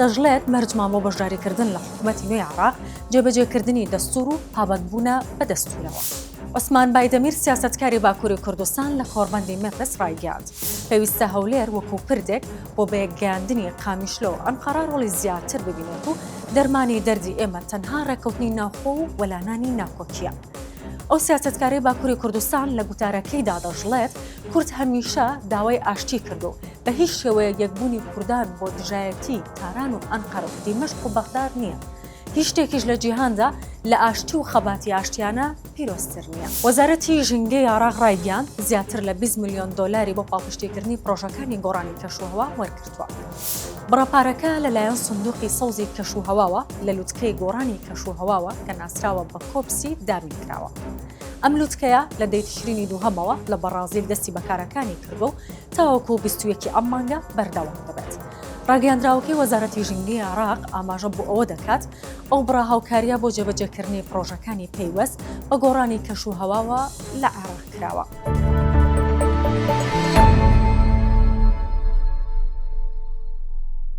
دەشڵێت، مەرجمان بۆ بەشداریکردن لە حکومەتی نوێی عێراق، جێبەجێکردنی دەستوور و پابەندبوونە بە دەستوورەوە. عوسمان بایدەمیر سیاسەتکاری باکووری کوردستان لە کۆڕبەندی مێپس ڕایگەیاند، پێویستە هەولێر وەکوو پردێک بۆ بەیەکگەیاندنی قامیشلۆ و ئەنقەرە ڕۆڵی زیاتر ببینێت و دەرمانی دەردی ئێمە تەنها ڕێککەوتنی ناوخۆ و وەلانانی ناکۆکییە. ئەو سیاسەتکارەی باکووری کوردستان لە گوتارەکەیدا دەشڵێت، کورد هەمیشە داوای ئاشتی کرد و بە هیچ شێوەیەک یەکبوونی کوردان بۆ دژایەتی تاران و ئەنقەرە و دیمەشق و بەغداد نییە. هیچ شتێکیش لە جیهاندا لە ئاشتی و خەباتی ئاشتیانە پیرۆزتر نییە. وەزارەتی ژینگەی عێراق ڕایگەیاند، زیاتر لە بیست ملیۆن دۆلاری بۆ پاڵپشتیکردنی پڕۆژەکانی گۆڕانی کەشوهەوا وەرگرتووە. بڕە پارەکە لەلایەن سندوقی سەوزی کەشوهەواوە لە لوتکەی گۆڕانی کەشوهەواوە کە ناسراوە بە کۆپسی دابین کراوە. ئەم لوتکەیە لە دەی تشرینی دووهەمەوە لە بەڕازیل دەستی بە کارەکانی کردووە و تاوەکو بیست و یەکی ئەم مانگە بەردەوام دەبێت. ڕاگەیاندراوەکەی وەزارەتی ژینگەی عێراق ئاماژە بۆ ئەوە دەکات، ئەو بڕە هاوکارییە بۆ جێبەجێکردنی پڕۆژەکانی پەیوەست بە گۆڕانی کەش و هەواوە لە عێراق کراوە.